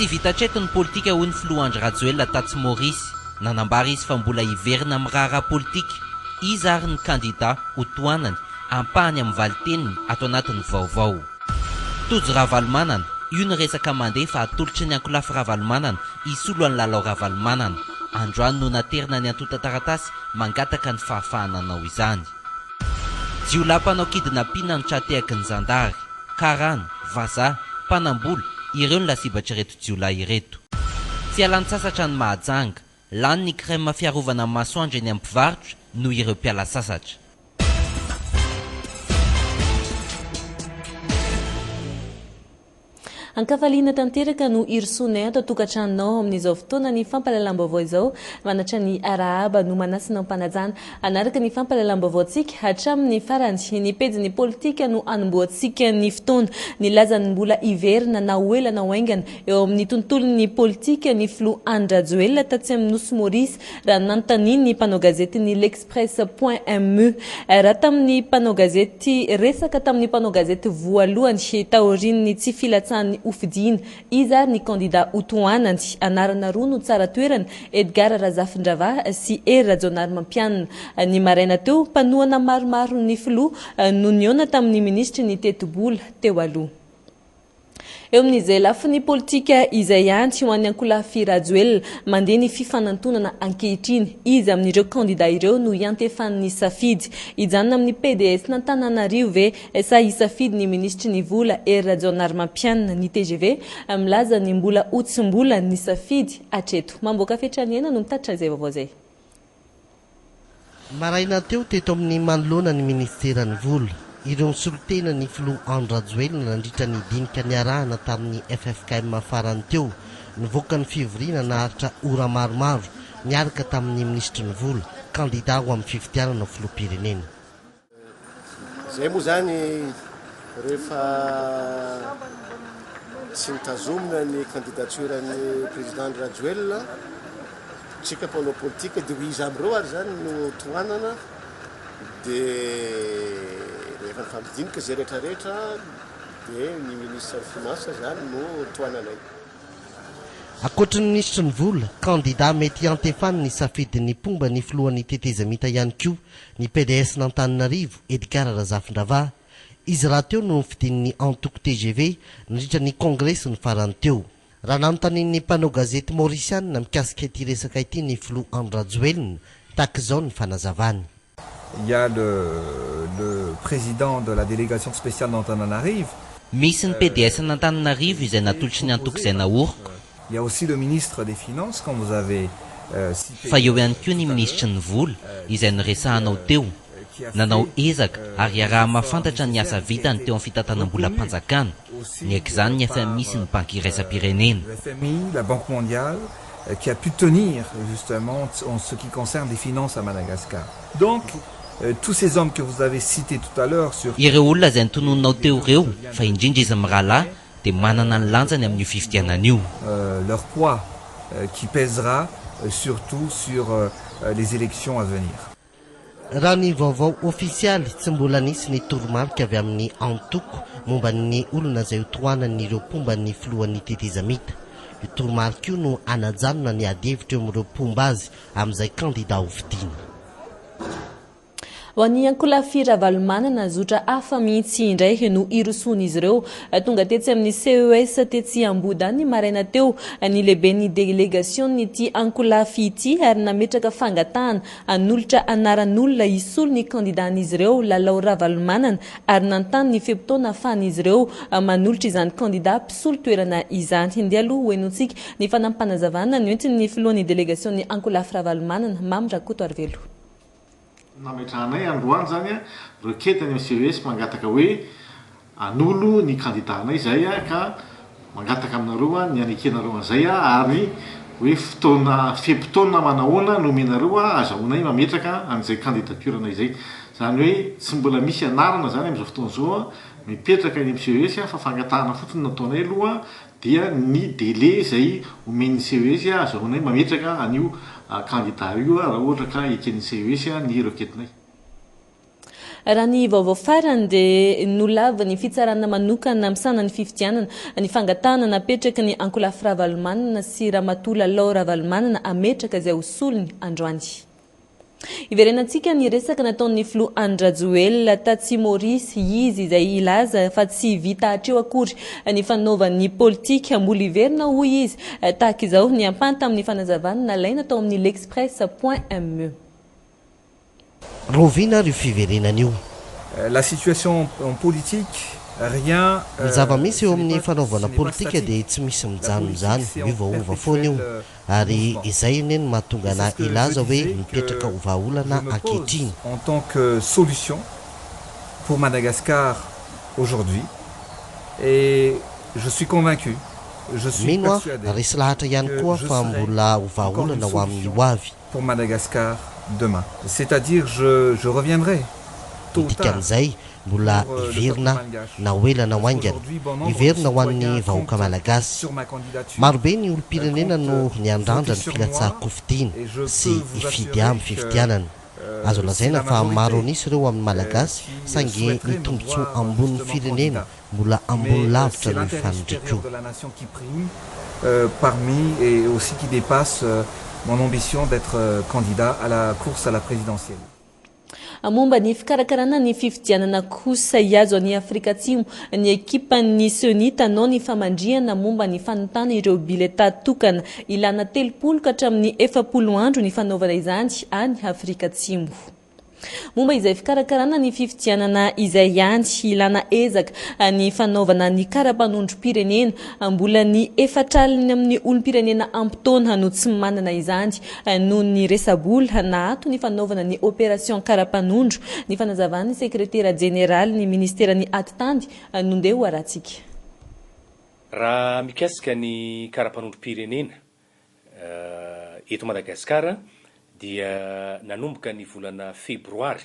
Tsy vita hatreto ny politika hoy ny filoha Andry Rajoelina tatsy Maorisy. Nanambara izy fa mbola hiverina amin'ny raharaha politika. Iza ary ny kandida ho tohanany? Ampahany amin'ny valinteniny ato anatin'ny vaovao. Tojo Ravalomanana, io ny resaka mandeha fa atolotry ny ankolafy Ravalomanana hisolo an'i Lalao Ravalomanana. Androany no naterina ny antontan-taratasy mangataka ny fahafahana hanao izany. Jiolahy mpanao kidnapina no tra-tehaky ny zandary. Karana, vazaha, mpanam-bola, ireo no lasibatr'ireto jiolahy ireto. Tsy hialan-tsasatra ny Mahajanga, Lany ny crème fiarovana ny masoandro eny amin'ny mpivarotra noho ireo mpiala sasatra. Ankafaliana tanteraka no irosoanay ato an-tokantranonao amin'izao fotoana ny fampahalalam-baovao izao. Manattra ny arahaba no manasina am-panajana. Hanaraka ny fampahalalam-baovaontsika hatramin'ny farany. Ny pejin'ny politika no anombohantsika ny fotoana. Nilaza ny mbola hiverina na ho ela na ho haingana eo amin'ny tontolon'ny politika ny filoha Andry Rajoelina tatsy amin'ny nosy Maurice raha nanontanian'ny mpanao gazetin'ny L'Express point MU raha tamin'ny mpanao gazety resaka tamin'ny mpanao gazety voalohany taorian'ny tsy filatsahan'ny hofidiana Iza ary ny kandida ho tohanany? Anarana roa no tsara toerana, Edgard Razafindravaha sy Hery Rajaonarimampianina. Ny maraina teo, mpanohana maromaro ny filoha no nihaona tamin'ny minisitry ny tetibola teo aloha. Eo amin'izay lafiny politika izay ihany, ho an'ny ankolafy Rajoelina, mandeha ny fifanantonana ankehitriny. Iza amin'ireo kandida ireo no iantefan'ny safidy? Hijanona amin'ny PDS-n'Antananarivo ve Efa hisafidy ny minisitry ny vola Hery Rajaonarimampianina ny tgv, milaza ny mbola ho tsy mbola nisafidy hatreto. Mamboaka fetra ny aina no mitatitra izay vaovao izay. Maraina teo teto amin'ny manoloana ny minisiteran'ny vola, ireo nisolo tena ny filoha Andry Rajoelina nandritra ny dinika niarahana tamin'ny ffkm farany teo. Nivoaka ny fivoriana naharitra ora maromaro, niaraka tamin'ny minisitry ny vola, kandida ho amin'ny fifidianana ho filoham-pirenena. Izay moa izany rehefa tsy nitazomina ny candidature ny président Andry Rajoelina, tsika mpanao politika dia ho iza amin'ireo ary izany no tohanana dia rehefa nifampidinika izay rehetra rehetra dia ny ministre ny finances izany no tohananay. Ankoatry ny minisitry ny vola, kandida mety hiantefan'ny safidin'ny mpomba ny filohan'ny tetezamita ihany koa Ny PDS-n'Antananarivo, Edgard Razafindravaha, izy rahateo no nofidin'ny antoko tgv nandritra ny kongresiny farany teo. Raha nanontanian'ny mpanao gazety Maorisianina mikasika ity resaka ity ny filoha Andry Rajoelina, tahaka izao ny fanazavany. Il y a le le président de la délégation spéciale d'Antananarive. Misy ny PDS-n'Antananarivo izay natolotry ny antoko izay naoriko. Fa eo ihany koa ny minisitry ny vola, izay noresahanao teo. Nanao ezaka ary iaraha-mahafantatra ny asa vitany teo amin'ny fitantanam-bolam-panjakana, niaiky izany ny fmi sy ny Banky iraisam-pirenena. Ireo olona izay notononinao teo ireo, fa indrindra izy mirahalahy, dia manana ny lanjany amin'io fifidianana io. leur poids qui pèsera surtout sur les élections à venir. Raha ny vaovao ofisialy, tsy mbola nisy ny toromarika avy amin'ny antoko momba ny olona izay ho tohanan'ireo mpomba ny filohan'ny tetezamita. Io toromarika io no hanajanona ny adihevitra eo amin'ireo mpomba azy amin'izay kandidà hofidiana. Ho an'i Ankolafy Ravalomanana, zotra hafa mihitsy indray no irosoan'izy ireo. Tonga tetsy amin'ny CES tetsy Ambohidahy ny maraina teo ny lehiben'ny delegasion'ity Ankolafy ity ary nametraka fangatahana hanolotra anaran'olona hisolo ny kandidan'izy ireo, Lalao Ravalomanana, ary nanontany ny fe-potoana ahafahan'izy ireo manolotra izany kandida mpisolo toerana izany. Ndeha aloha hohenointsika ny fanampim-panazavana noentin'ny filohan'ny delegasion'ny Ankolafy Ravalomanana, Mamy Rakotoarivelo. nametrahanay androany zany a requête any amin'ny CES mangataka hoe hanolo ny kandidànay izay ka mangataka aminareo ny hanekenareo an'izay ary hoe fotoana fe-potoana manahoana no omenareo ahazahoanay mametraka an'izay candidature-nay izay. Izany hoe tsy mbola misy anarana izany amin'izao fotoana izao mipetraka eny amin'ny CES fa fangatahana fotsiny no ataonay aloha dia ny délai izay omen'ny CES ahazahoanay mametraka an'io kandida io raha ohatra ka eken'ny CES ny requête-nay. Raha ny vaovao farany dia nolavin'ny fitsarana manokana misahana ny fifidianana ny fangatahana napetraky ny ankolafy Ravalomanana sy Ramatoa Lalao Ravalomanana hametraka izay ho solony androany. Hiverenantsika ny resaka nataon'ny filoha Andry Rajoelina tatsy Maurice, izy izay hilaza fa tsy vita hatreo akory ny fanaovany politika, mbola hiverina hoy izy, tahaka izao ny ampahany tamin'ny fanazavany nalaina tao amin'ny L'Express point me. Rahoviana ary io fiverenana io? La situation en politique, rien ne se répète, ce n'est pas statique. Ny zava-misy eo amin'ny fanaovana politika dia tsy misy mijanona izany, miovaova foana io. ary izay anie no mahatonga anà hilaza hoe mipetraka ho vahaolana ankehitriny. En tant que solution pour Madagascar aujourd'hui et je suis convaincu, je suis Mino aho, persuadé, resy lahatra ihany que koa je fa serai mbola ho encore une vahaolana ho amin'ny solution hoavy. pour Madagascar demain. C'est-à-dire je je reviendrai, tôt ou Ny tard. dikan'izay, Mbola hiverina na ho ela na ho haingana. Hiverina ho an'ny vahoaka malagasy. Marobe ny olom-pirenena no niandrandra ny filatsahan-kofidiana sy hifidy amin'ny fifidianana. Azo lazaina fa maro an'isa ireo amin'ny malagasy saingy ny tombontsoa ambonin'ny firenena mbola ambony lavitra noho ny fanondrikona. Momba ny fikarakarana ny fifidianana kosa hiazo an'i Afrika Atsimo ny ekipan'ny Ceni tanao ny famandrihana momba ny fanontana ireo bileta tokana. Ilana telopolo ka hatramin'ny efapolo andro ny fanaovana izany any Afrika Atsimo. Momba izay fikarakarana ny fifidianana izay ihany, ilana ezaka ny fanaovana ny kara-panondrom-pirenena. Mbola ny efatraliny amin'ny olom-pirenena ampy taona no tsy manana izany noho ny resa-bola naato ny fanaovana ny opération karapanondro, ny fanazavan'ny sekretera jeneralin'ny ministeran'ny atitany no ndeha ho arantsika. Raha mikasika ny karapanondrom-pirenena eto Madagasikara dia nanomboka ny volana febroary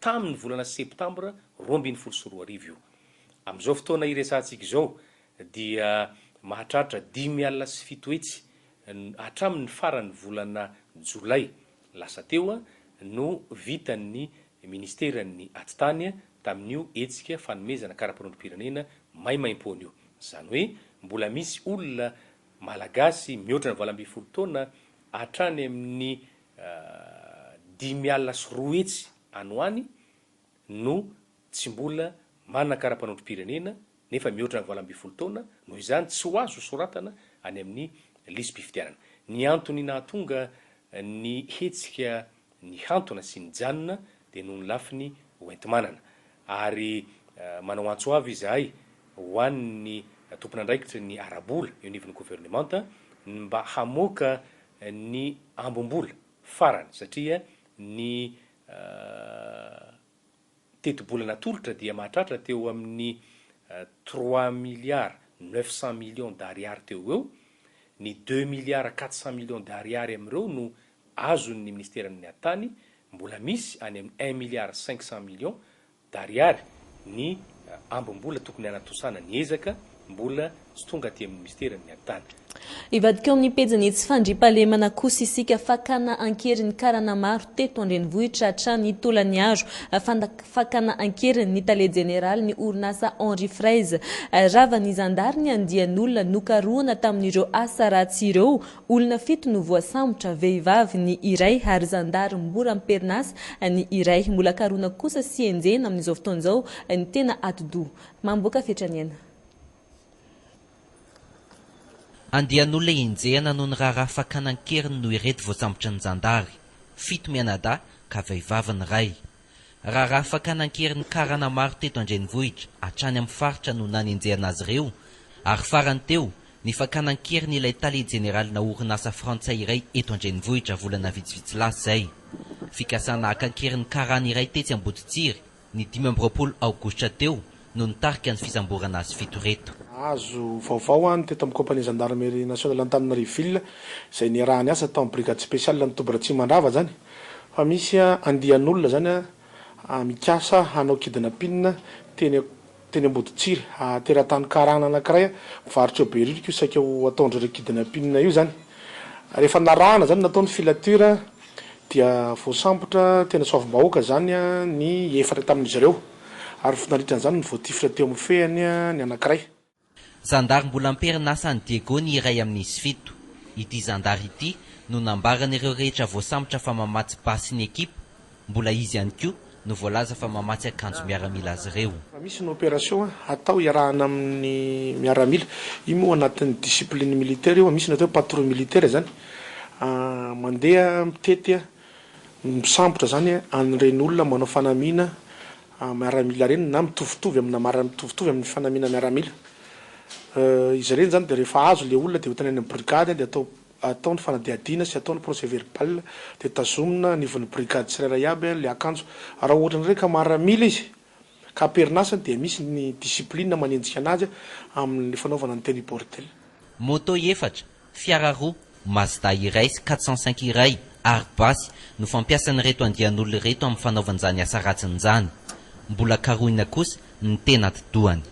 tamin'ny volana septambra roa ambin'ny folo sy roa arivo io. Amin'izao fotoana iresahantsika izao dia mahatratra dimy alina sy fito hetsy hatramin'ny faran'ny volana jolay lasa teo no vitan'ny Ministeran'ny Atitany tamin'io hetsika fanomezana karapanondrom-pirenena maimaimpoana io. Izany hoe mbola misy olona malagasy mihoatra ny valo ambin'ny folo taona hatrany amin'ny dimy alina sy roa hetsy any ho any no tsy mbola manana karapanondrom-pirenena nefa mihoatra ny valo ambin'ny folo taona, noho izany tsy ho azo soratana any amin'ny lisi-pifidianana. Ny antony nahatonga ny hetsika nihantona sy nijanona dia noho ny lafiny hoenti-manana ary manao antso avo izahay ho an'ny tompon'andraikitry ny ara-bola eo anivon'ny governemanta ny mba hamoaka ny ambom-bola farany satria ny tetibola natolotra dia mahatratra teo amin'ny trois milliards neuf cent millions d'ariary teo ho eo, ny deux milliards quatre cent millions d'ariary amin'ireo no azon'ny Minisiteran'ny Atany, mbola misy any amin'ny un milliard cinq cent millions dariary ny ambim-bola tokony hanatosana ny ezaka mbola tsy tonga aty amin'ny minisitera ny miadatana. Hivadika ao amin'ny pejin'ny tsy fandriampahalemana kosa isika. Fakana an-keriny ny karana maro teto an-drenivohitra hatrany Tolagnaro. Fakana an-keriny ny tale jeneralin'ny orinasa Henri Fraise. Ravan'ny zandary ny andian'olona nokarohina tamin'ireo asa ratsy ireo Olona fito no voasambotra, vehivavy ny iray ary zandary mora am-perinasa ny iray. Mbola karona kosa sy enjehina amin'izao fotoana izao ny tena atidoha. Mamboaka fetra ny aina. Andian'olona enjehina noho ny raharaha fakana an-keriny no ireto voasambotry ny zandary. Fito mianadahy ka vehivavy ny iray. Raharaha fakana an-keriny karana maro teto an-drenivohitra hatrany amin'ny faritra no nanenjehana azy ireo ary farany teo ny fakana an-keriny ilay tale jeneralinà orinasa frantsay iray eto an-drenivohitra volana vitsivitsy lasa izay. Fikasana haka an-keriny karana iray tetsy Amboditsiry ny dimy amby roapolo aogositra teo no nitarika ny fisamborana azy fito ireto. Nahazo vaovao aho ny teto amin'ny Compagnie Gendarmerie Nationale Antananarivo Ville izay niarahany asa tao amin'ny Brigade Spéciale any Toby Ratsimo Mandrava zany fa misy andian'olona zany mikasa hanao kidnapin teny teny Amboditsiry ary teratany karana anakiray mpivarotra eo Beririka io saika ho ataondreo le kidnapin io zany rehefa narahana zany natao ny filature dia voasambotra teny Soavimbahoaka zany ny efatra tamin'izy ireo. ary vao nandritra an'izany no voatifitra teo amin'ny fehiny ny anankiray. Zandary mbola am-perinasa any Diego ny iray amin'izy fito. Ity zandary ity no nambaran'ireo rehetra voasambotra fa mamatsy basy ny ekipa, mbola izy ihany koa no voalaza fa mamatsy akanjo miaramila azy ireo. Raha misy ny opération hatao hiarahana amin'ny miaramila, io moa anatin'ny discipline militaire io, misy ny atao hoe patrouille militaire izany, mandeha mitety Misambotra izany an'ireny olona manao fanamiana miaramila ireny na mitovitovy amina mitovitovy amin'ny fanamiana miaramila. Izy ireny izany dia rehefa azo ilay olona dia hoentina any amin'ny brigady dia atao atao ny fanadihadiana sy atao ny procès verbal dia tazomina anivon'ny brigady tsirairay aby ilay akanjo. Raha ohatra indray ka maramila izy ka am-perinasa dia misy ny discipline manenjika an'azy amin'ny fanaovana ny tenue bordel. Moto efatra, Fiara roa, Mazda iray sy quatre cent cinq iray ary basy no fampiasan'ireto andian'olona ireto amin'ny fanaovan'izany asa ratsiny izany. Mbola karohina kosa ny tena atidohany.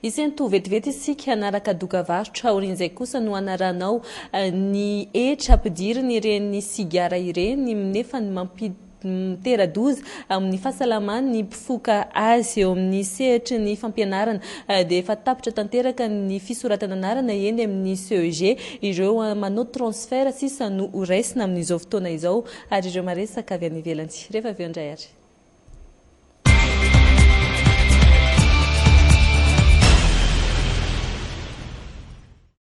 Isento vetivety isika hanaraka doka varotra, aorian'izay kosa no hanaranao ny hetra ampidiriny ireny sigara ireny, nefa ny mampidi-. mitera-doza amin'ny fahasalaman'ny mpifoka azy. Eo amin'ny sehatry ny fampianarana dia efa tapitra tanteraka ny fisoratana anarana eny amin'ny CEG. Ireo manao transfert sisa no ho raisina amin'izao fotoana izao ary ireo maresaka avy any ivelany. Rehefa avy eo indray ary.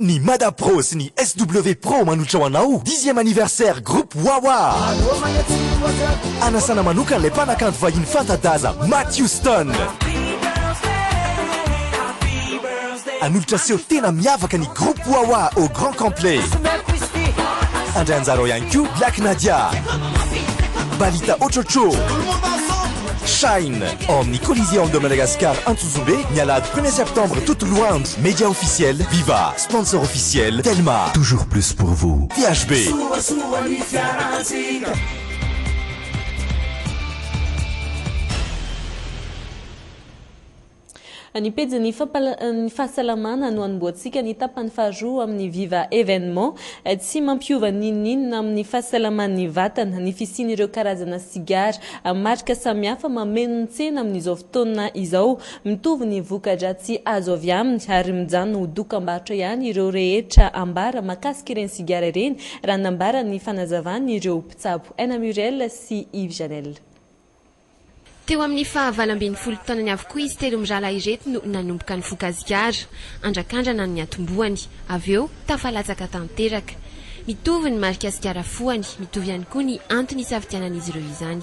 Ny Mada Pro sy ny SW Pro manohitra ho anao dixième anniversaire groupe Wawa. Anasana manokana ilay mpanakanto vahiny fanta-daza Matt Houston. Hanolotra seho tena miavaka ny groupe Wawa au grand complet. Handray anjara ao ihany koa Black Nadia, Balita Ochocho, Shine ao amin'ny Colisée Ando Madagascar Antsojay. Antsonjombe, ny alahady premier septembre Toto Lohanjo, media officiel, viva, sponsor officiel, telma, toujours plus pour vous, THB. Soasoa ny fiarantsika. Ny pejin'ny fampal-ny fahasalamana no anombohantsika ny tapany faharoa amin'ny Viva Evenement. Tsy mampiova n'inon'inona amin'ny fahasalaman'ny vatana ny fisian'ireo karazana sigara marika samihafa mameno ny tsena amin'izao taona izao. Mitovy ny voka-dratsy azo avy aminy ary mijanona ho dokam-barotra ihany ireo rehetra ambara makasika ireny sigara ireny, raha nambara ny fanazavany ireo mpitsabo Aina Muriel sy Yves Janel. Teo amin'ny fahavalo ambin'ny folo taonany avokoa izy telo mirahalahy ireto no nanomboka nifoka sigara. Andrakandrana ny atombohany, avy eo tafalatsaka tanteraka. Mitovy ny marika sigara fohany, mitovy ihany koa ny antony isafidianan'izy ireo izany.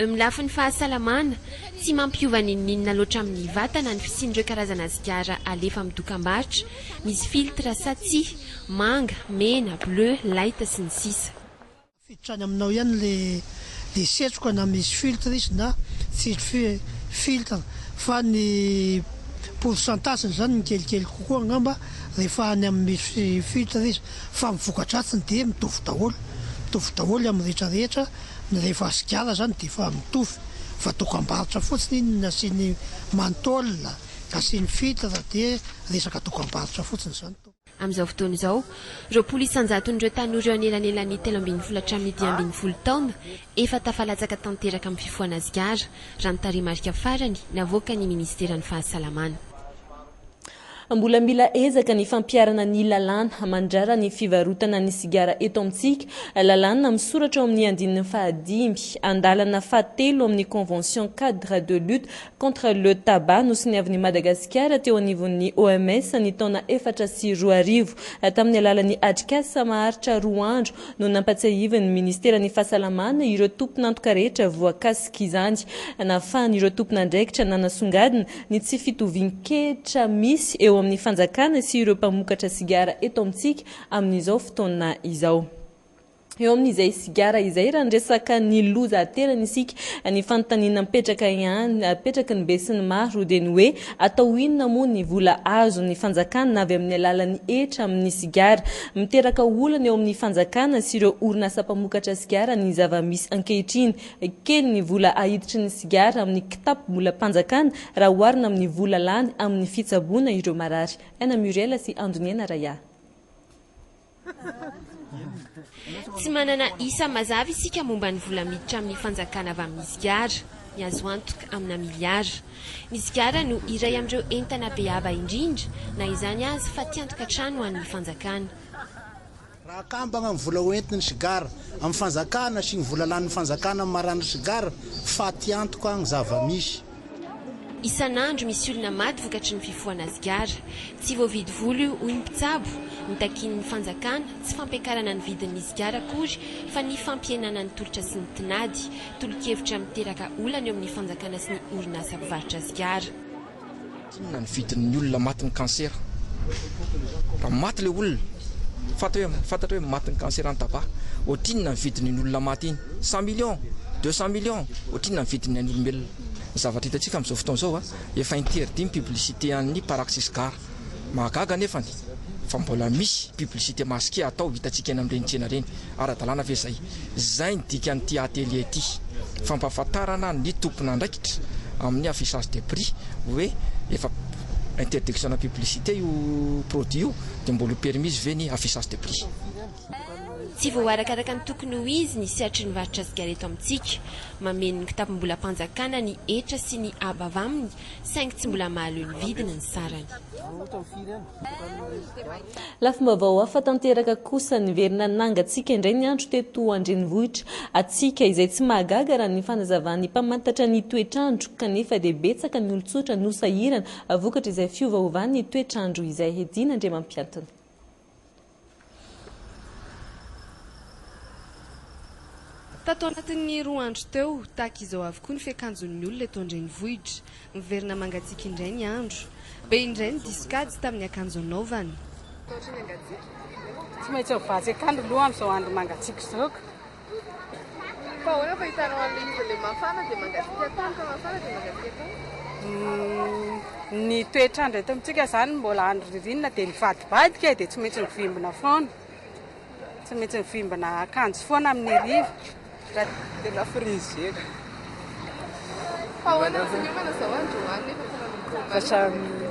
Amin'ny lafiny fahasalamana, tsy mampiova n'inon'inona loatra amin'ny vatana ny fisian'ireo karazana sigara alefa amin'ny dokambarotra, misy filtre sa tsia, manga, mena, bleu, light, sy ny sisa. Afiditra any aminao ihany le le setroka na misy filtre izy na tsisy fi filtre fa ny pourcentage ny zany mikelikely kokoa angamba rehefa any amin'ny misy fi filtre izy fa ny vokadratsiny dia mitovy daholo mitovy daholo amin'ny rehetra rehetra Ny rehefa asigala zany de efa mitovy fa dokambarotra fotsiny iny ny asiany mantôle, asiany filtre de resaka dokambarotra fotsiny zany. Amin'izao fotoana izao, roapolo isan-jaton'ireo tanora eo anelanelan'ny telo ambin'ny folo hatramin'ny dimy ambin'ny folo taona efa tafalatsaka tanteraka amin'ny fifohana sigara, raha ny tarehimarika farany navoakan'ny Ministeran'ny Fahasalamana. Mbola mila ezaka ny fampiharana ny lalàna mandrara ny fivarotana ny sigara eto amintsika, lalàna misoratra ao amin'ny andininy fahadimy, andalana fahatelo amin'ny Convention Cadre de Lutte contre le Tabac nosoniavin'i Madagasikara teo anivon'ny OMS ny taona efatra sy roa arivo, tamin'ny alalan'ny atrikasa maharitra roa andro, no nampatsiahivin'ny Ministeran'ny Fahasalamana ireo tompon'antoka rehetra voakasik'izany. Nahafahan'ireo tompon'andraikitra nanasongadina ny tsy fitovian-kehitra misy eo amin'ny fanjakana sy ireo mpamokatra sigara eto amintsika amin'izao fotoana izao. Eo amin'izay sigara izay raha ny resaka ny loza aterany isika, ny fanontaniana mipetraka ihany, apetraky ny besinimaro dia ny hoe, Atao inona moa ny vola azon'ny fanjakana avy amin'ny alalan'ny hetra amin'ny sigara? Miteraka olana eo amin'ny fanjakana sy ireo orinasa mpamokatra sigara ny zava-misy ankehitriny. Kely ny vola ahiditry ny sigara amin'ny kitapom-bolam-panjakana raha oharina amin'ny vola lany amin'ny fitsaboana ireo marary. Aina Muriel sy Andoniaina Raya. Tsy manana isa mazava isika momba ny vola miditra amin'ny fanjakana avy amin'ny sigara. Ny azo antoka, amina miliara. Ny sigara no iray amin'ireo entana be haba indrindra, na izany aza, fatiantoka hatrany ho an'ny fanjakana. Raha akambana ny vola hoentin'ny sigara amin'ny fanjakana sy ny vola lanin'ny fanjakana amin'ny maran'ny sigara, fatiantoka ny zava-misy. Isan'andro misy olona maty vokatry ny fifohana sigara. Tsy voavidy vola io, hoy ny mpitsabo. Notakian'ny fanjakana, tsy fampiakarana ny vidin'ny sigara akory, fa ny fampihenana ny tolotra sy ny tinady. Tolo-kevitra miteraka olana eo amin'ny fanjakana sy ny orinasa mpivarotra sigara. Inona ny vidin'ny olona matin'ny kansera? Raha maty ilay olona, fantatra hoe fantatra hoe matin'ny kansera ny taba, ohatrinona ny vidin'iny olona maty iny? Cent millions? Deux cent millions? Ohatrinona ny vidin'ny ain'olombelona? Ny zavatra hitantsika amin'izao fotoana izao a, efa interdit ny publicité an'ny Paraxis Gar. Mahagaga anefany fa mbola misy publicité masqué atao hitantsika eny amin'ireny tsena ireny. Ara-dalàna ve izay? Izay ny dikan'ity atelier ity, fampahafantarana ny tompon'andraikitra amin'ny affichage des prix hoe efa interdiction de publicité io produit io dia mbola ho permise ve ny affichage des prix. Tsy voarakaraka ny tokony ho izy ny sehatry ny varotra sigara eto amintsika. Mameno ny kitapom-bolam-panjakana ny hetra sy ny haba avy aminy saingy tsy mbola mahaleo ny vidiny ny sarany. Lafim-baovao hafa tanteraka kosa niverina nangatsiaka indray ny andro teto an-drenivohitra. Hatsiaka izay tsy mahagaga raha ny fanazavan'ny mpamantatra ny toetr'andro, kanefa dia betsaka ny olon-tsotra no sahirana vokatr'izay fiovaovan'ny toetr'andro izay, Headin Andriamampiantony. Tato anatin'ny roa andro teo, tahaka izao avokoa ny fiakanjon'ny olona eto an-drenivohitra. Miverina mangatsiaka indray ny andro. Be indray ny diso kajy tamin'ny akanjo anaovana. Tsy maintsy mivatsy akandro aloha amin'izao andro mangatsiaka izao ka. Fa ahoana fa hitanao an'ilay izy ilay mafana dia mangatsiaka tany fa mafana dia mangatsiaka tany? Ny toetr'andro eto amintsika izany mbola andro ririnina dia mivadibadika e, dia tsy maintsy mivimbina foana. Tsy maintsy mivimbina akanjo foana amin'ny hariva. Dia na frizera. Fa ahoana no finiomana izao androany nefa tena mitomany?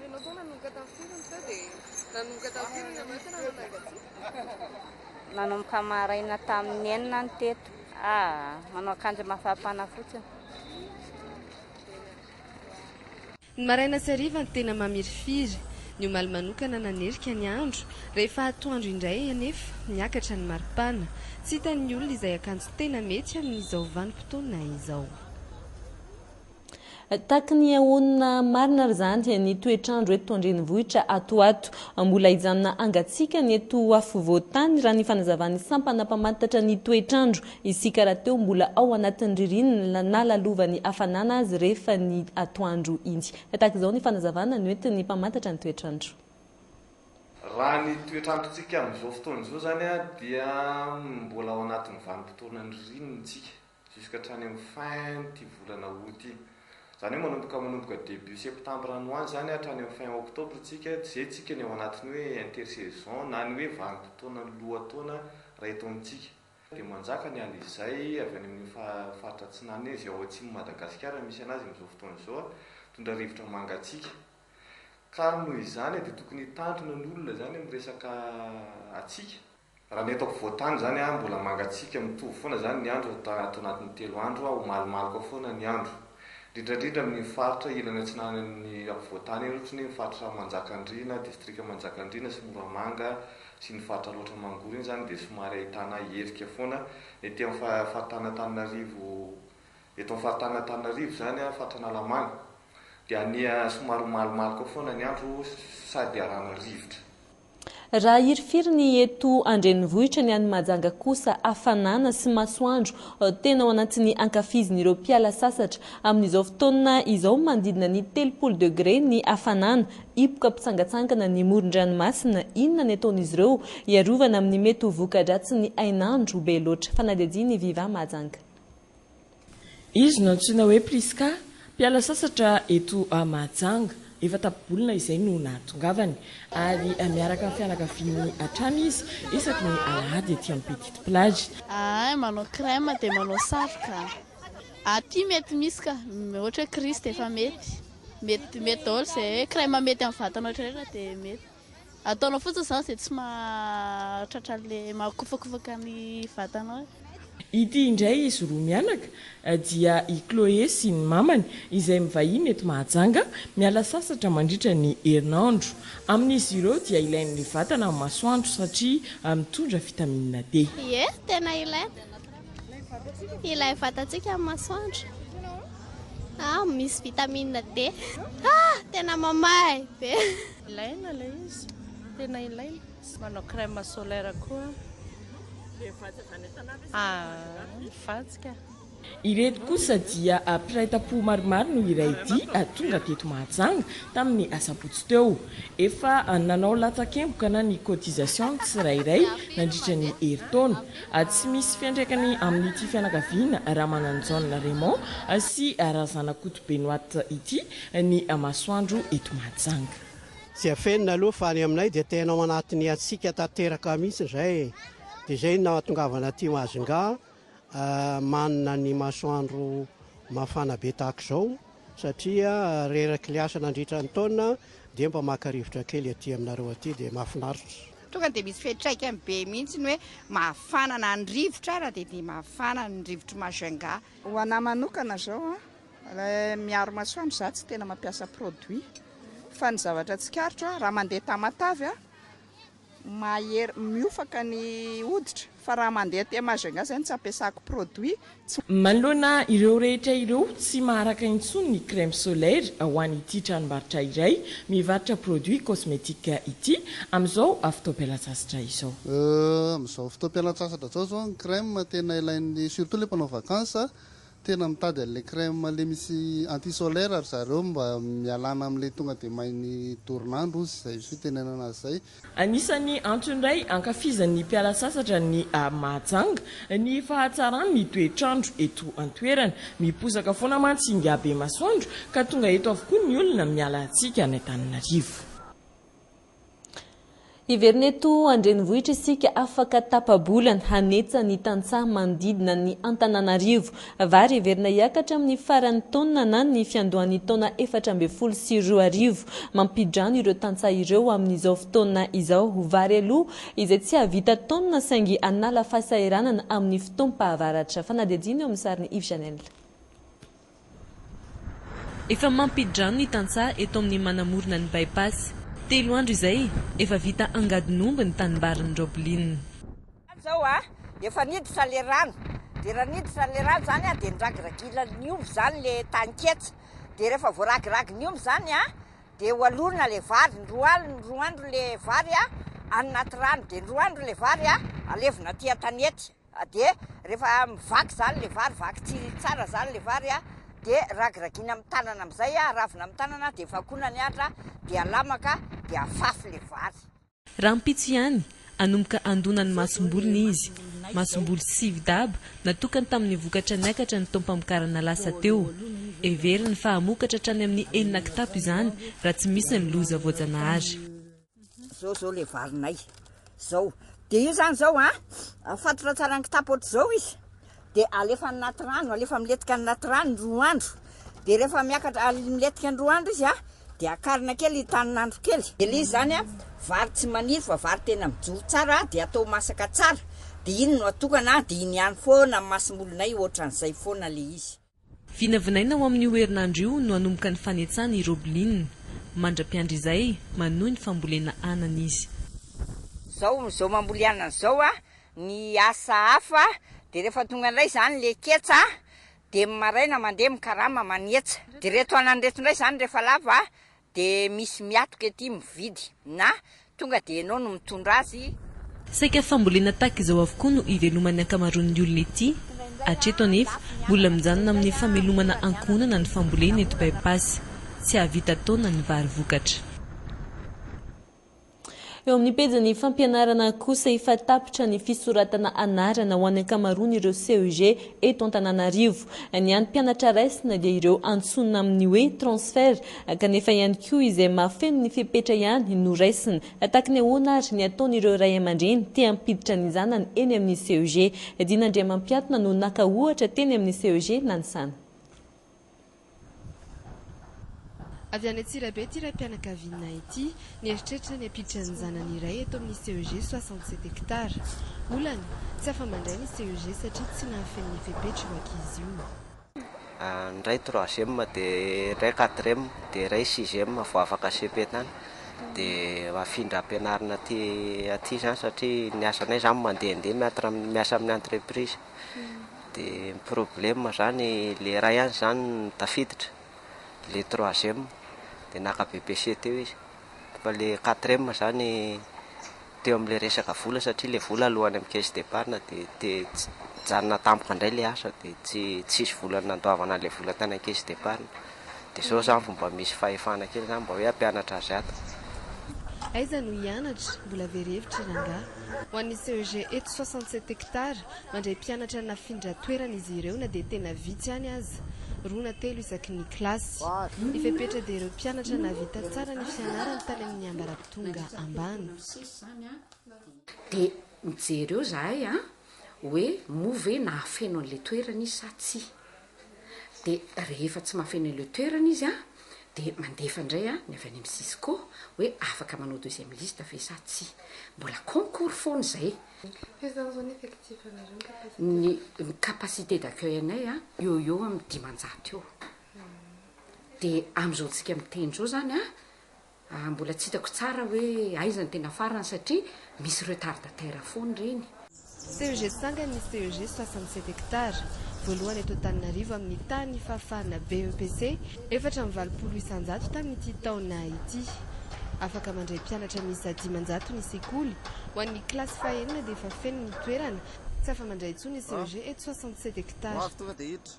Ianao koa nanomboka tamin'ny firy no teo dia nanomboka tamin'ny firy ianao tena nanangan-tsofina? Nanomboka maraina tamin'ny enina no teto. Ah, manao akanjo mafampana fotsiny. Ny maraina sy hariva no tena mamirifiry. Ny omaly manokana nanerika ny andro. Rehefa atoandro indray anefa, niakatra ny maripana. Tsy hitan'ny olona izay akanjo tena mety amin'izao vanim-potoana izao. Tahaky ny ahoana marina ary zany ny toetr'andro eto an-drenivohitra ato ato? Mbola hijanona hangatsiakana eto afovoan-tany raha ny fanazavan'ny sampana mpamantatra ny toetr'andro. Isika rahateo mbola ao anatin'ny ririnina na lalovan'ny hafanana azy rehefa ny atoandro iny. Tahaka izao ny fanazavana noentin'ny mpamantatra ny toetr'andro. Raha ny toetr'androntsika amin'izao fotoana izao izany dia mbola ao anatin'ny vanim-potoanan'ny ririnina isika. Jusque hatrany amin'ny fin ity volana aout ity. Izany hoe manomboka manomboka début septembre any ho any izany hatrany amin'ny fin octobre tsika, tsy izay tsika ny ao anatin'ny hoe intersaison na ny hoe vanim-potoanan'ny lohataona raha eto amintsika. Dia manjaka ny alizay avy any amin'io faritra atsinanana io, izay ao atsimon'i Madagasikara no misy anazy amin'izao fotoana izao, mitondra rivotra mangatsiaka. Ka ary noho izany dia tokony hitandrina ny olona izany amin'ny resaka hatsiaka. Raha ny eto ampovoan-tany izany an, mbola mangatsiaka mitovy foana izany ny andro raha ato anatin'ny telo andro an, ho malomaloka foana ny andro. Indrindra indrindra amin'iny faritra ilany atsinanan'ny ampovoan-tany iny ohatry ny hoe ny faritra Manjakandriana, distrika Manjakandriana sy Moramanga sy ny faritra Alaotra Mangoro iny izany dia somary ahitana hevika foana. Ny ety amin'ny faritanin'Antananarivo, eto amin'ny faritanin'Antananarivo izany an, faritra Analamanga dia anie somary ho malomaloka foana ny andro sady arahana rivotra. Raha hirifiry ny eto an-drenivohitra ny any Mahajanga kosa hafanana sy masoandro tena ao anatin'ny ankafizin'ireo mpiala sasatra. Amin'izao fotoana izao manodidina ny telopolo degré ny hafanana, hipoka mpitsangatsangana ny moron-dranomasina, inona ny ataon'izy ireo hiarovana amin'ny mety ho voka-dratsin'ny hainandro be loatra? Fanadihadian'i Viva Mahajanga. Izy no antsoina hoe Prisca, mpiala sasatra eto Mahajanga. Efa tapibolona izay no nahatongavany, ary miaraka amin'ny fianakaviany hatrany izy isaky ny alahady ety amin'ny Petite Plage. Ahay manao crème dia manao satroka. Aty mety misy ka, ohatra hoe Christ efa mety. Mety mety daholo izay hoe crème mety amin'ny vatana rehetra dia mety. Ataonao fotsiny izany izay tsy mahatratra an'ilay mahakofakofaka ny vatanao e. Ity indray izy roa mianaka dia i Chloé sy ny mamany izay mivahiny eto Mahajanga miala sasatra mandritra ny herinandro. Amin'izy ireo dia ilain'ny vatana ny masoandro satria mitondra vitamina D. Ie, tena ilaina ilay vatantsika amin'ny masoandro ah misy vitamina D ah tena mamahay be. Ilaina ilay izy, tena ilaina. Manao crème solaire koa. Dia vantazana isan'andro izy manao azy ireny. Ny vadiko. Ireto kosa dia mpiray-tampo maromaro no iray dia tonga teto Mahajanga tamin'ny asabotsy teo. Efa nanao latsakemboka na ny cotisation ny tsirairay nandritra ny herintaona. Tsy misy fiantraikany amin'ity fianakaviana Ramananjaona Raymond sy Razanakoto Benoît ity ny masoandro eto Mahajanga. Tsy afenina aloha fa any aminay dia tena ao anatin'ny hatsiaka tanteraka mihitsy izay e! Dia izay no nahatongavana aty Majunga manana ny masoandro mafana be tahaka izao satria reraky ilay asa nandritra ny taona dia mba maka rivotra kely aty aminareo aty dia mahafinaritra. Tonga dia misy fiantraikany be mihitsy ny hoe mafana na ny rivotra ara dia dia mafana ny rivotry Majunga. Ho anah manokana izao Miaro masoandro za tsy tena mampiasa produit fa ny zavatra tsikaritro a raha mandeha tamatave a mahery miofaka ny hoditra fa raha mandeha aty Majunga zay no tsy ampiasako produit Manoloana ireo rehetra ireo, tsy maharaka intsony ny crème solaire ho an'ity tranombarotra iray mivarotra produits cosmétiques ity, amin'izao fotoam-pialantsasatra izao. Amin'izao fotoam-pialantsasatra izao izao ny crème tena ilain'ny, surtout ilay mpanao vacances, Tena mitady an'ilay crème le misy anti solaire ry zareo mba mialana amin'ilay tonga dia main'ny dorin'andro hozy izay fitenenana azy izay. Anisan'ny antony iray ankafizan'ny mpiala-tsasatra ny Mahajanga ny fahatsaran'ny toetr'andro eto an-toerana. Miposaka foana mantsy ingahy Bemasoandro ka tonga eto avokoa ny olona miala tsika any Antananarivo. Hiverina eto an-drenivohitra isika afaka tapa-bolana, hanetsa ny tantsaha manodidina ny Antananarivo. Vary heverina hiakatra amin'ny faran'ny taona na ny fiandohan'ny taona efatra ambin'ny folo sy roa arivo. Mampidrano ireo tantsaha ireo amin'izao fotoana izao vary aloa izay tsy hahavita taonina saingy hanala fahasahiranana amin'ny fotoam-pahavaratra. Fanadihadiana eo amin'ny sarin'i Yves Janel. Efa mampi-drano ny tantsaha eto amin'ny manamorona ny By-pass. Telo andro izay, efa vita angadin'omby ny tanimbarin'i Roblin. Izao a, efa niditra ilay rano, dia raha niditra ilay rano izany a, dia niragiragilan'ny omby izany ilay taninketsa, dia rehefa voaragiragin'ny omby izany a, dia hoalorina ilay vary, ny roa alina, roa andro ilay vary a, any anaty rano, dia ny roa andro ilay vary a, alevina aty an-tanety. Dia rehefa mivaky zany le vary, vaky tsiriri tsara zany le vary a, de ragiragina amin'ny tanana amin'izay a, aravina amin'ny tanana de vakoina ny atra de alamaka de afafy le vary. Rahampitso ihany, hanomboka handona ny masombolony izy. Masomboly sivy daba natokany tamin'ny vokatra niakatra ny taom-pamokarana lasa teo. Heveriny fa hamokatra hatrany amin'ny enina kitapo izany raha tsy misy ny loza voajanahary. Zao zao le valinay zao de io zany zao a afatotra tsara ny kitapo ohatr'izao izy de alefa anaty rano alefa miletika anaty rano roa andro de rehefa miakatra miletika ny roa andro izy a de akarina kely tanin'andro kely de le izy zany a vary tsy maniry fa vary tena mijoro tsara de atao masaka tsara de iny no atokana de iny ihany foana masimolonay ohatran'izay foana le izy Vinavinaina ho amin'io herinandro io no hanomboka ny fanetsany i Roblin. Mandra-piandry izay, manohy ny fambolena anana izy. Zao zao mamboly anana zao a, ny asa hafa de rehefa tonga ndray zany le ketsa de maraina mandeha mikarama manetsa, de reto anana reto ndray zany rehefa lava De misy miatoka ety mividy na tonga de enao no mitondra azy. Saika fambolena tahaka izao avokoa no iveloman'ny ankamaroan'ny olona ety. Hatreto anefa, mbola mijanona amin'ny famelomana ankohonana ny fambolena eto By Pass. Tsy hahavita taona ny vary vokatra. Eo amin'ny pejin'ny fampianarana kosa efa tapitra ny fisoratana anarana ho an'ny ankamaroan'ireo CEG eto Antananarivo. Ny an'ny mpianatra raisina dia ireo antsoina amin'ny hoe transfert kanefa ihany koa izay mahafeno ny fepetra ihany no raisina. Tahaky ny ahoana ary ny ataon'ireo ray aman-dreny te hampiditra ny zanany eny amin'ny CEG? Dina Andriamampiatona no naka ohatra teny amin'ny CEG Nanisana. Avy any Antsirabe ity raim-pianakaviana ity. Nieritreritra ny hampiditra ny zanany iray eto amin'ny CEG soixante sept hectares. Olana, tsy afa-mandray ny CEG satria tsy nahafeno ny fepetra io ankizy io. Ny iray troisième dia iray quatrième dia iray sixième vao afaka cepe tany dia afindra ampianarina aty aty izany satria ny asanay izany mandehandeha miatra miasa amin'ny entreprise. de ny problème zany le iray ihany zany no tafiditra le troisième de naka BPC teo izy fa le quatrième zany teo amle resaka vola satria le vola aloany am caisse d'épargne de te tsy hijanona tampoka ndray le asa de tsy tsisy vola nandoavana anle vola tany am caisse d'épargne. Dia izao izany vao mba misy fahefana kely izany mba hoe hampianatra azy ato. Aiza no hianatra? Mbola very hevitra i rangahy. Ho an'ny CEG eto soixante sept hectares, mandray mpianatra nafindra toerana izy ireo na dia tena vitsy ihany aza, roa na telo isaky ny kilasy. Ny fepetra dia ireo mpianatra nahavita tsara ny fianarany tany amin'ny ambaratonga ambany. Dia mijery eo izahay an! hoe moa ve nahafeno an'ilay toerana izy sa tsia? dia rehefa tsy mahafeno ilay toerana izy an, dia mandefa indray an ny avy any amin'ny Cisco hoe afaka manao deuxième liste ve sa tsia. Mbola concours foana izay. Combien de personnes effectif anareo ny capacité? Ny ny capacité d'accueil anay an, eo ho eo amin'ny dimanjato eo. Dia amin'izao tsika miteny izao izany an, Ah mbola tsy hitako tsara hoe aiza ny tena farany satria misy retardataire foana ireny. CEG Tsangany ny CEG soixante sept hectares voalohany eto Antananarivo amin'ny tany fahafahana BEPC efatra amby valopolo isanjato tamin'ity taona ity. Afaka mandray mpianatra miisa dimanjato ny sekoly. Ho an'ny kilasy fahenina dia efa feno ny toerana. Tsy afa-mandray intsony ny CEG eto soixante sept hectares.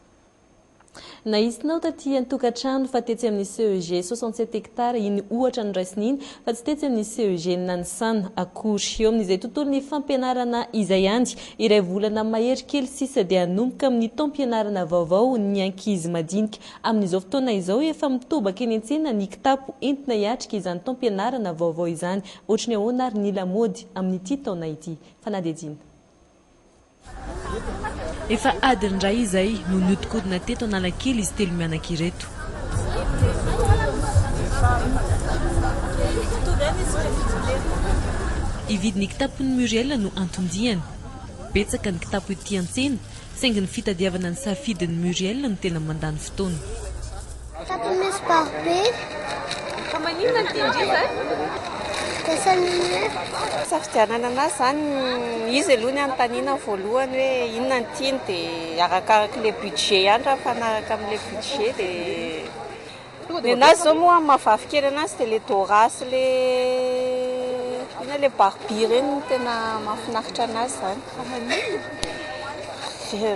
Nahisinao taty an-tokantrano fa tetsy amin'ny CEG soixante sept hectares iny ohatra noraisina iny fa tsy tetsy amin'ny CEG Nanisana akory. Eo amin'izay tontolon'ny fampianarana izay ihany, iray volana mahery kely sisa dia hanomboka amin'ny taom-pianarana vaovao ny ankizy madinika. Amin'izao fotoana izao efa mitobaka eny an-tsena ny kitapo entina hiatrika izany taom-pianarana vaovao izany. Ohatry ny ahoana ary ny lamaody amin'ity taona ity? Fanadihadiana. Efa adiny iray izay no nihodinkodina teto Analakely izy telo mianaka ireto. Hividy ny kitapon'i Muriel no anton-diany. Betsaka ny kitapo ety an-tsena, saingy ny fitadiavana ny safidin'i Muriel no tena mandany fotoana. Japonais baro be. Fa maninona ny tendrika eh? Dessin Safidianana anazy zany izy aloha ny anontaniana voalohany hoe inona ny tiany dia arakarak'ilay le budget ihany raha mifanaraka amin'ilay budget dia ny anazy zao moa mavavy kely anazy dia le dora sy le ina le barbie ireny tena mahafinaritra anazy zany Fa maninona?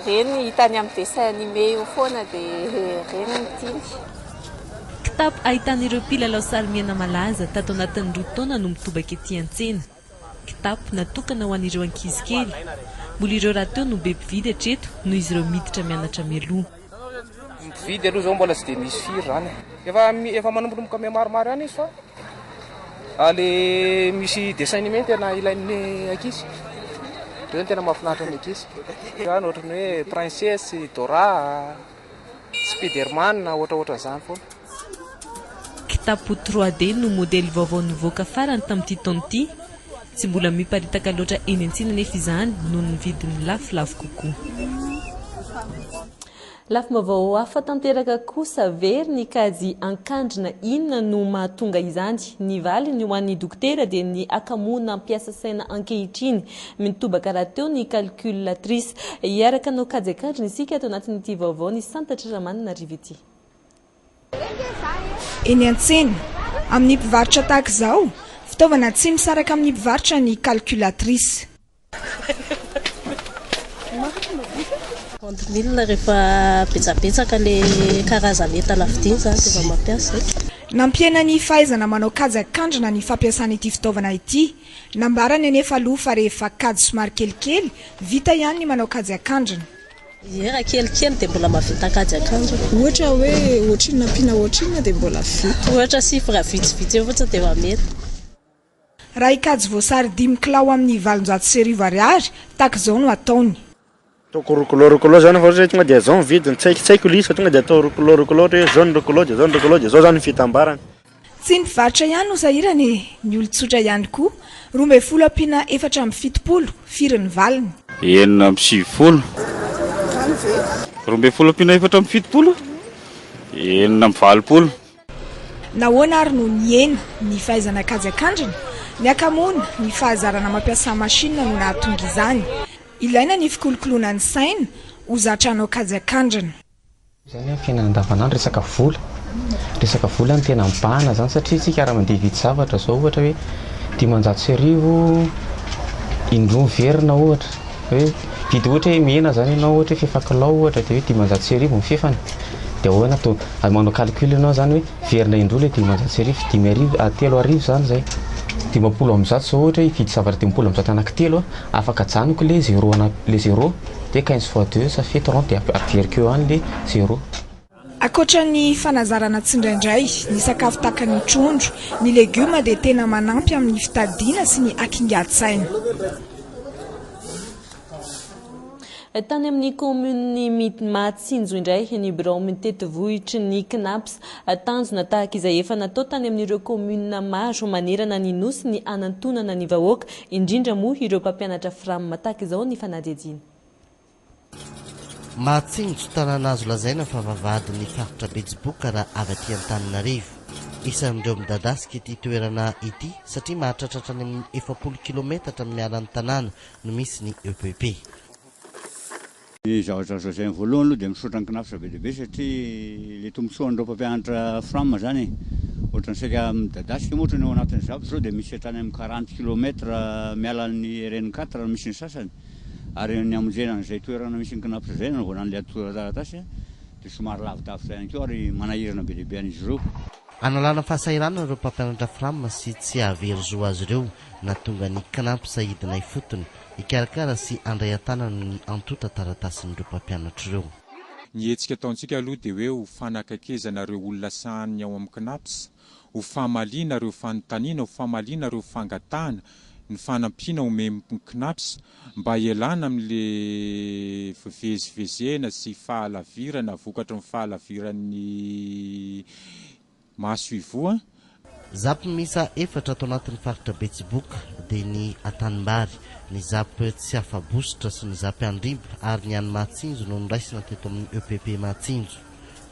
Reny hitany amin'ny dessin animé io foana dia reny no tiany. Kitapo ahitana ireo mpilalao sarimiaina malaza tato anatin'ny roa taona no mitobaka ety an-tsena. Kitapo natokana ho an'ireo ankizy kely. Mbola ireo rahateo no be mpividy hatreto noho izy ireo miditra mianatra mialoha. Ny mpividy aloha zao mbola tsy dia misy firy zany e. Efa efa manombonomboka miha maromaro ihany izy fa le misy dessin animé tena ilain'ny ankizy. Reo no tena mahafinaritra ny ankizy. Zany ohatran'ny hoe princesse, Dora, Spiderman, ohatraohatran'izany foana. Kitapo trois D no modely vaovao nivoaka farany tamin'ity taona ity. Tsy mbola miparitaka loatra eny an-tsena anefa izany noho ny vidiny lafolafo kokoa. Lafim-baovao hafa tanteraka kosa very ny kajy an-kandrina. Inona no mahatonga izany? Ny valiny ho an'ny dokotera dia ny hakamoana hampiasa saina ankehitriny. Mitobaka rahateo ny calculatrice. Hiaraka hanao kajy an-kandrina isika ato anatin'ity vaovao ny santatr'i Ramanana Rivo ity. Eny an-tsena, amin'ny mpivarotra tahaka izao, fitaovana tsy misaraka amin'ny mpivarotra ny calculatrice. Compte mille rehefa betsabetsaka ilay karazan'entana vidiana izany dia vao mampiasa e. Nampihena ny fahaizana manao kajy akandrina ny fampiasana ity fitaovana ity. Nambarany anefa aloha fa rehefa kajy somary kelikely, vita ihany ny manao kajy akandrina. Ie raha kelikely dia mbola mahavita an-kajy akanjo. Ohatra hoe ohatrinona ampiana ohatrinona dia mbola vita. Ohatra chiffre vitsivitsy eo fotsiny dia efa mety. Raha hikajy voasary dimy kilao amin'ny valonjato sy arivo ariary, tahaka izao no ataony. Ataoko roa kilao roa kilao izany fa ohatra hoe tonga dia izao ny vidiny, tsy haiko tsy haiko ilay izy fa tonga dia atao roa kilao roa kilao ohatra hoe izao ny roa kilao dia izao ny roa kilao dia izao izany ny fitambarany. Tsy ny varotra ihany no sahirana e, ny olon-tsotra ihany koa. Roa ambin'ny folo ampiana efatra amby fitopolo, firy ny valiny? Enina amby sivifolo. Izany ve? Roa ambin'ny folo ampiana efatra amby fitopolo, enina amby valopolo. Nahoana ary no nihena ny fahaizana kajy an-kandrina? Ny hakamoana, ny fahazarana mampiasa masinina no nahatonga izany. Ilaina ny fikolokoloana ny saina ho zatra hanao kajy an-kandrina. Zany amin'ny fiainana andavanandro resaka vola, resaka vola no tena mibahana zany satria isika raha mandeha hividy zavatra zao ohatra hoe dimanjato sy arivo indroa miverina ohatra hoe mividy ohatra hoe mena zany ianao ohatra hoe fefy kilao ohatra dia hoe dimanjato sy arivo ny fefany dia ahoana to, manao calcul ianao zany hoe miverina indroa ilay dimanjato sy arivo, dimy arivo, telo arivo zany zay, dimampolo amby zato zao ohatra hoe hividy zavatra dimampolo amby zato anaky telo aho, afaka ajanoko ilay zéro, ilay zéro. dia quinze fois deux ça fait trente dia averiko eo any le zero. Ankoatra ny fanazarana tsindraindray ny sakafo tahaka ny trondro, ny legioma dia tena manampy amin'ny fitadidiana sy ny hakingan-tsaina. Tany amin'ny kaominin'i Mahatsinjo indray ny birao mitety vohitry ny Cnaps. Tanjona tahaka izay efa natao tany amin'ireo kaominina maro manerana ny Nosy ny hanantonana ny vahoaka Indrindra moa ireo mpampianatra fram tahaka izao ny fanadihadiana. Mahatsinjo tanàna azo lazaina fa vavahadin'ny faritra Betsiboka raha avy aty Antananarivo. Isan'ireo midadasika ity toerana ity satria mahatratratra any amin'ny efapolo kilaometatra miala ny tanàna no misy ny EPP. Izaho zao zay voalohany aloha dia misaotra ny Cnaps be dia be satria ilay tombontsoan'ireo mpampianatra fram zany ohatrany saika midadasika moa ohatrany ao anatin'ny zavatra zao dia misy hatrany amin'ny quarante kilomètre miala an'ny rn quatre raha misy ny sasany ary ny hamonjena an'izay toerana misy ny Cnaps izay nanaovana an'ilay atorataratasy dia somary lavidavitra ihany koa ary manahirana be dia be an'izy ireo. Analana fahasahiranana ireo mpampianatra fram sy tsy hahavery zo azy ireo nahatonga ny Cnaps hidina ifotony Hikarakara sy handray an-tanana ny antontan-taratasin'ireo mpampianatra ireo. Ny hetsika ataontsika aloha dia hoe ho fanakaikezana ireo olona sahanin'ny ao amin'ny Cnaps, ho famaliana ireo fanontaniana, ho famaliana ireo fangatahana, ny fanampiana omen'ny Cnaps mba hialana amin'ilay fivezivezena sy fahalavirana vokatry ny fahalaviran'ny. Mahasoivoho an! Zap miisa efatra ato anatin'ny faritra Betsiboka dia ny Antanimbary, ny Zap Tsiafabositra sy ny Zap Andrimba ary ny any Mahatsinjo no noraisina teto amin'ny EPP Mahatsinjo.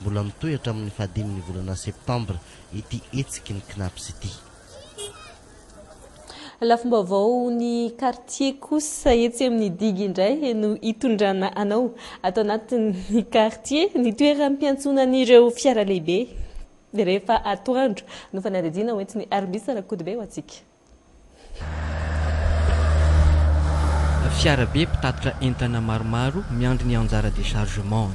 Mbola mitohy hatramin'ny fahadimin'ny volana septambra ity hetsiky ny Cnaps ity. Lafim-baovaon'ny kartie kosa etsy amin'ny digy indray no hitondrana anao ato anatin'ny kartie. Ny toeram-piantsonan'ireo fiara lehibe rehefa atoandro no fanadihadiana hoentin'i Armis Rakotobe ho antsika. Fiarabe mpitatitra entana maromaro miandry ny anjara dechargement.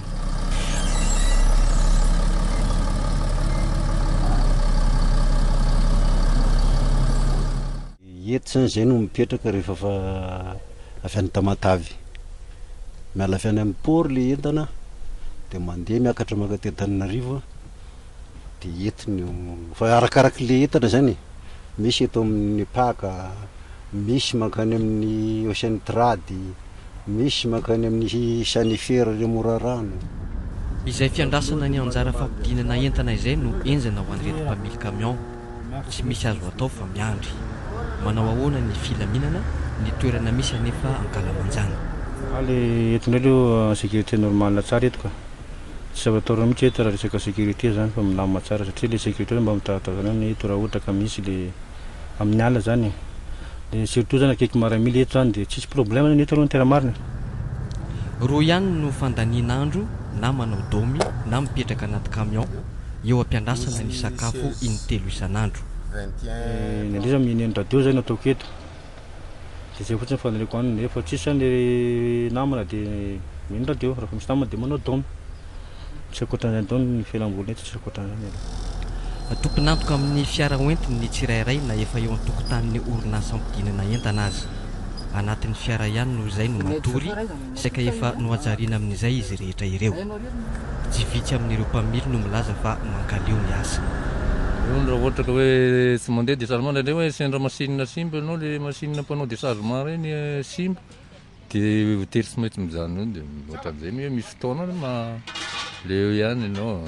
Hety zany zay no mipetraka rehefa fa avy any Tamatave. Miala avy any amin'ny port le entana de mandeha miakatra maka aty Antananarivo de hety no fa arakaraky le entana zany e. Misy eto amin'ny Nepaka, misy mankany amin'ny Ocean Trade. Misy mankany amin'ny sanifer le morarano. Izay fiandrasana ny anjara fampidinana entana izay no enjana ho an'ireto mpamily camion. Tsy misy azo atao fa miandry. Manao ahoana ny filaminana, ny toerana misy anefa ankalamanjana. Fa le eto ndray leo en sécurité normale tsara eto ka. Tsy zava-taorina mihitsy eto raha resaka sécurité zany fa milamina tsara satria le sécurité mba mitazatazana ny eto raha ohatra ka misy le. amin'ny ala zany e, dia surtout zany akaiky maramila eto zany dia tsisy problème zany eto aloha ny tena marina. Roa ihany no fandaniana andro na manao domy na mipetraka anaty camion eo ampiandrasana ny sakafo intelo isan'andro. Ny andraisana amin'ny neniradio izay no ataoko eto. de zay fotsiny faniriako any nefa tsisy zany le namana de mino radio refa misy namana de manao don tsy akoatran'izany don ny fialamboly eto tsy akoatran'izany aloha. Tompon'antoka amin'ny fiara hoentiny ny tsirairay na efa eo an-tokotanin'ny orinasa hampidinana entana aza. Anatin'ny fiara ihany no izay no matory. saika efa nohajariana amin'izay izy rehetra ireo. Tsy vitsy amin'ireo mpamily no milaza fa mankaleo ny asa. Eo ny raha ohatra ka hoe tsy mandeha desargement indraindray hoe sendra machine simba ianao le machine mpanao desargement ireny simba de voatery tsy maintsy mijanona eo de ohatran'izay mi hoe misy fotoana ma le eo ihany ianao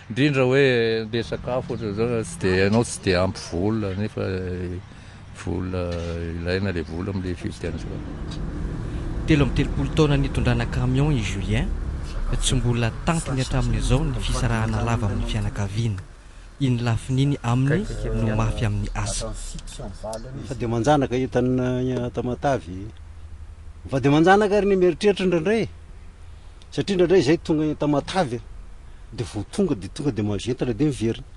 indrindra hoe andeha sakafo ohatran'izao tsy de ianao tsy de ampy vola nefa Vola ilaina le vola amle fifidianana zao. Telo amby telopolo taona nitondrana camion i Julien, tsy mbola tampony hatramin'izao ny fisarahana lava amin'ny fianakaviana. Iny lafiny iny aminy no mafy amin'ny asa. Mifady aman-janaka io tany Tamatave e! Mifady aman-janaka ary ny mieritreritra indraindray e! Satria indraindray izay tonga Tamatave dia vao tonga dia tonga dia mahaventana dia miverina.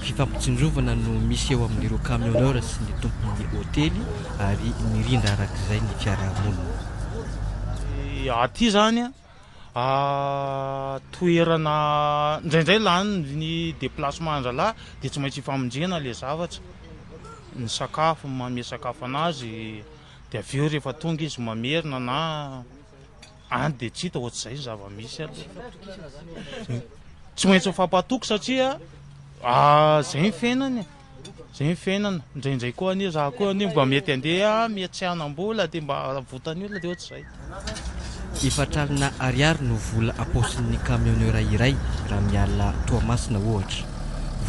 Fifampitsinjovana no misy eo amin'ireo camionneurs sy ny tompon'ny hotely ary mirindra arak'izay ny fiarahamonina. Aty izany toerana indraindray lanin'ny déplacement-ndralahy dia tsy maintsy ifamonjena ilay zavatra, ny sakafo, manome sakafo an'azy dia avy eo rehefa tonga izy mamerina na. Any dia tsy hita ohatr'izay ny zava-misy aloha. Tsy maintsy mifampatoky satria ah, zay ny fiainana e. Zay ny fiainana. Indraindray koa anie za koa anie mba mety andeha miatsianam-bola dia mba avotan'ny olona dia ohatr'izay. Efatra alina ariary no vola ampaosin'ny camionneur iray raha miala Toamasina ohatra.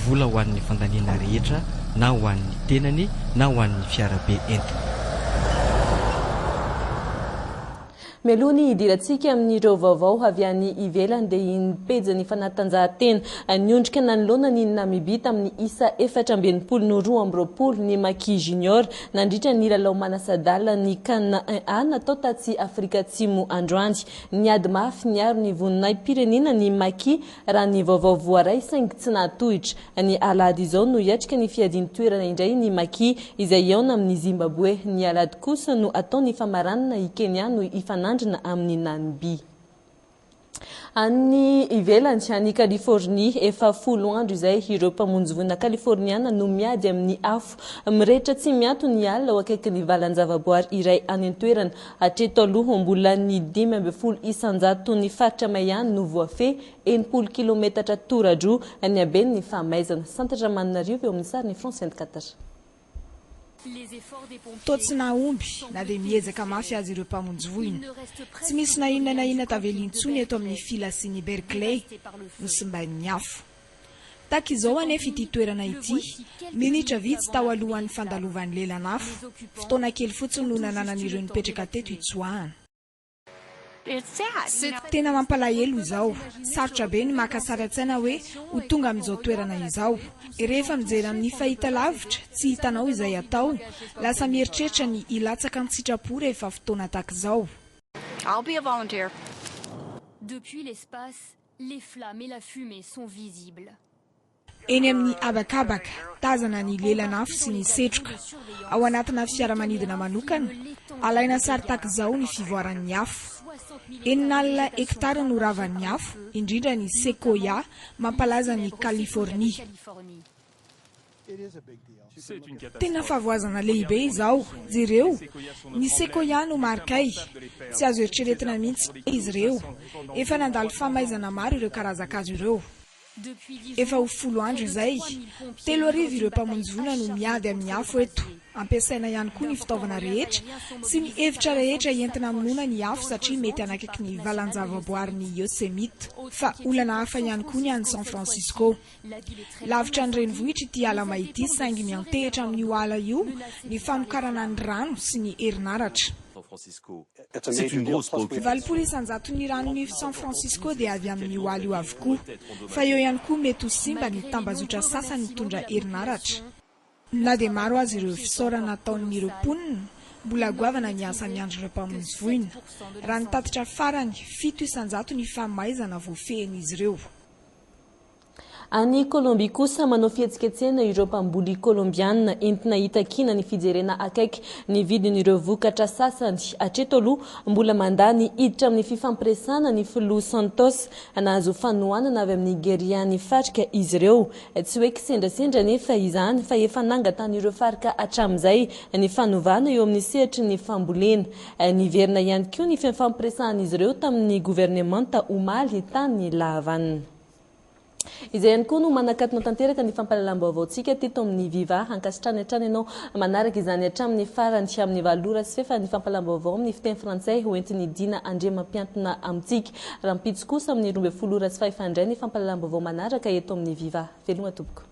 Vola ho an'ny fandaniana rehetra na ho an'ny tenany na ho an'ny fiarabe entiny. Mialoha ny hidirantsika amin'ireo vaovao avy any ivelany dia iny pejin'ny fanatanjahantena niondrika nanoloana an'i Namibia tamin'ny isa efatra amby enimpolo no roa amby roapolo ny Maki Junior nandritra ny lalao manasa-dalan'ny Can I A natao tatsy Afrika Atsimo androany. Niady mafy niaro ny voninahi-pirenena ny Maki Raha ny vaovao voaray saingy tsy nahatohitra, ny alahady izao no hiatrika ny fiadian-toerana indray ny Maki izay hihaona amin'ny Zimbaboe. Ny alahady kosa no atao ny famaranana i Kenya no hifanandrina amin'i Namibia. Any ivelany, any Californie, efa folo andro izay ireo mpamonjy voina Kaliforniana no miady amin'ny afo mirehitra tsy miato ny alina ao akaikin'ny valan-javaboary iray any an-toerana. Hatreto aloha, mbola ny dimy ambin'ny folo isan-jaton'ny faritra may ihany no voafehy, enimpolo kilometatra toradroa ny haben'ny famaizana. Santatra Maninarivo eo amin'ny sarin'i France 24. Toa tsy nahomby, na dia miezaka mafy aza ireo mpamonjy voina. Tsy misy na inona na inona tavela intsony eto amin'ny filasin'i Berkeley, nosimbain'ny afo. Takizao anefa ity toerana ity, minitra vitsy tao alohan'ny fandalovan'ny lelan'afo. Fotoana kely fotsiny no nananan'ireo nipetraka teto hitsoahana. Tena mampalahelo izao. Sarotra be ny maka sary an-tsaina hoe ho tonga amin'izao toerana izao. Rehefa mijery amin'ny fahitalavitra, tsy hitanao izay atao, lasa mieritreritra ny hilatsaka an-tsitrapo rehefa fotoana takizao. Les flammes et la fumée sont visibles. Eny amin'ny habakabaka, tazana ny lelan'afo sy ny setroka. Ao anatina fiaramanidina manokana, alaina sary tahaka izao ny fivoaran'ny afo. Enin'alina hektara no ravan'ny afo, indrindra ny sequoia mampalaza an'i Californie. Tena favoazana lehibe izao. Jereo, ny Sequoia no marikay. Tsy azo eritreretina mihitsy hoe izy ireo. Efa nandalo famaizana maro ireo karazan-kazo ireo. Efa ho folo andro izay, telo arivo ireo mpamonjy voina no miady amin'ny afo eto. Ampiasaina ihany koa ny fitaovana rehetra sy ny efitra rehetra entina hamonoana ny afo satria mety hanakaiky ny valanjavaboarin'i Yosemite. Fa olana hafa ihany koa ny any San Francisco. Lavitra ny renivohitra ity ala may ity saingy miantehitra amin'io ala io ny famokarana ny rano sy ny herinaratra. Valopolo isan-jaton'ny ranon'Ify San Francisco dia avy amin'io ala io avokoa. Fa eo ihany koa mety ho simba ny tambazotra sasany mitondra herinaratra. Na dia maro aza ireo fisaorana ataon'ireo mponina, mbola goavana ny asa miandry ireo mpamonjy voina. Raha ny tatitra farany, fito isan-jato ny famaizana voafehin'izy ireo. Any Kolombia kosa, manao fihetsiketsehana ireo mpamboly Kolombiana entina hitakiana ny fijerena akaiky ny vidin'ireo vokatra sasany. Hatreto aloha, mbola mandà ny hiditra amin'ny fifampiresahana ny filoha Santos. Nahazo fanohanana avy amin'ny gerian'ny FARC izy ireo, Tsy hoe kisendrasendra anefa izany fa efa nangatan'ireo FARC hatramin'izay ny fanovana eo amin'ny sehatry ny fambolena. Niverina ihany koa ny fifampirsahan'izy ireo tamin'ny governemanta omaly tany La Havane. Izay ihany koa no manakatona tanteraka ny fampahalalam-baovaontsika teto amin'ny Viva. Ankasitrahany hatrany ianao manaraka izany hatramin'ny farany amin'ny valo ora sy fahefany fampahalalam-baovao amin'ny fiteny frantsay hoentin'i Dina Andriamampiantona amintsika. Rahampitso kosa amin'ny roa ambin'ny folo ora sy fahefany indray ny fampahalalam-baovao manaraka eto amin'ny Viva. Veloma tompoko.